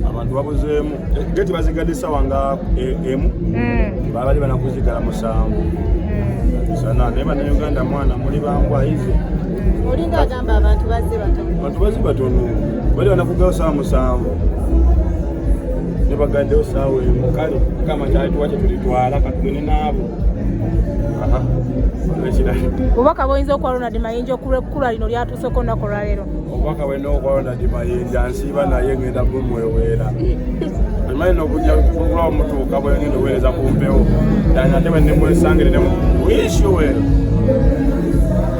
abantu babuzeemu geti bazigadde esawa nga e, emu hmm. babali banakuzigala musanvu hmm. sana naye banauganda mwana muli bambwaize olinga agamba abantu bazze batono abantu bazze batono bali banakugawo sawa musanvu nebagaddewo saawa emu kale kama kyalituwa kyetulitwala katugende naabo obubaka bwoyinza okuwa ronald mayinja okulwekula lino lyatuuseko olunaku olwaleero obubaka bwena okwalonda dimayinja nsiiba naye ngenda bumweweera emanyi nokuja kugula omutuuka bwengenda oweereza ku mpewo dani ate bwenemwesangirire muishuwe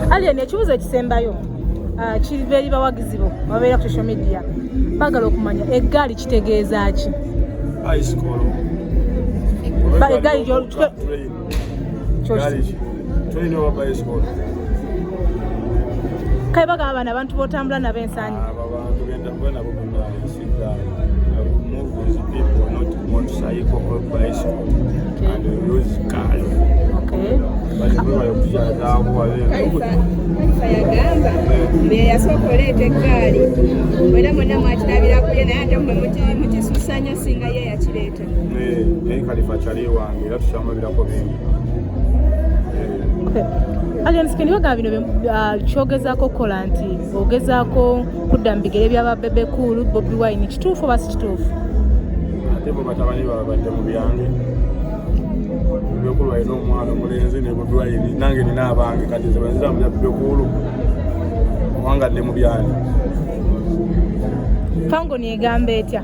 alien ekibuzo ekisembayo ah, kiriva eri bawagizi bo babeera ku social media bagala okumanya eggaali kitegeeza ki egaali kale bagamba bano abantu botambula nabo ensanyi yasooka oleeta eggaali mwena mwena mwakirabirakuye naye ate mwe mukisusanyo singa ye yakireeta naye kalifa akyali ewange era tukyamulabirako bingi alienskin bagamba bino ah, kyogezaako okukola nti ogezaako kudda mu bigere byaba bebe cool bobi wine kituufu oba si kituufu ate bo batabani babadde mu byange byokulwa yina omwana omulenzi ne bobi wine nange nina abange kati nze bwenziramu bya bebe cool owangadde mu byange fango negamba etya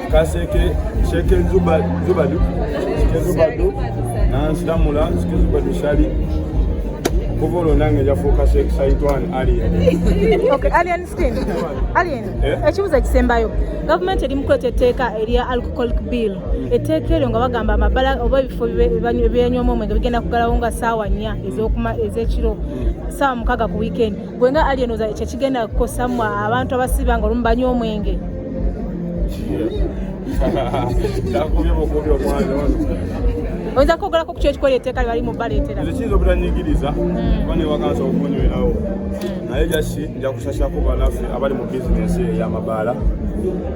kaseke sheke zubadu sheke zubadu nansiramula sheke zubadu shali kuva olwo nange njafuuka sheke saitwan alien alien skin alien eh? ekibuzo ekisembayo gavumenti eri mukweta etteeka erya alcoholic bill mm. etteeka eryo nga bagamba amabala oba ebifo byenywamu omwenge bigenda kugalawo nga saawa nnya ez'ekiro mm. saawa mukaaga ku wiikendi gwe nga alien oza kyekigenda kukosa mwe abantu abasiba nga olumu banywa omwenge oyinza kwogerako ku kyo ekikola eteeka lyebali mu baleetera kiyinza obutanyigiriza hmm. kuba newakansa okunywerawo hmm. naye jasi njakusasako banafe abali mu bizinesi eyamabaala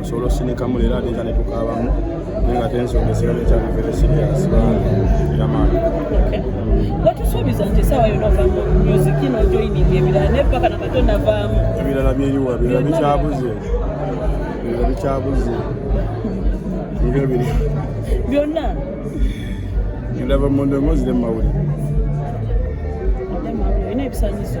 osobola osinikamu leero ate nza netukaabamu naye nga tensonga esirabe ekyali vere siriasi yamaani watusuubiza nti esaawa yona ovamu music ino joining ebirala naye paka na kato navaamu ebirala byeriwa birala bikyabuze birala bikyabuze ebyo biri byonna ndava mu ndongo zire mu mawulire olina ebisanyizo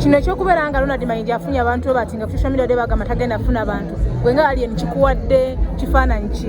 kino ekyokubeera nga ronald mayinja afunye abantu webati nga social media de bagamba tagenda afuna abantu gwe nga alien kikuwadde kifaananyi ki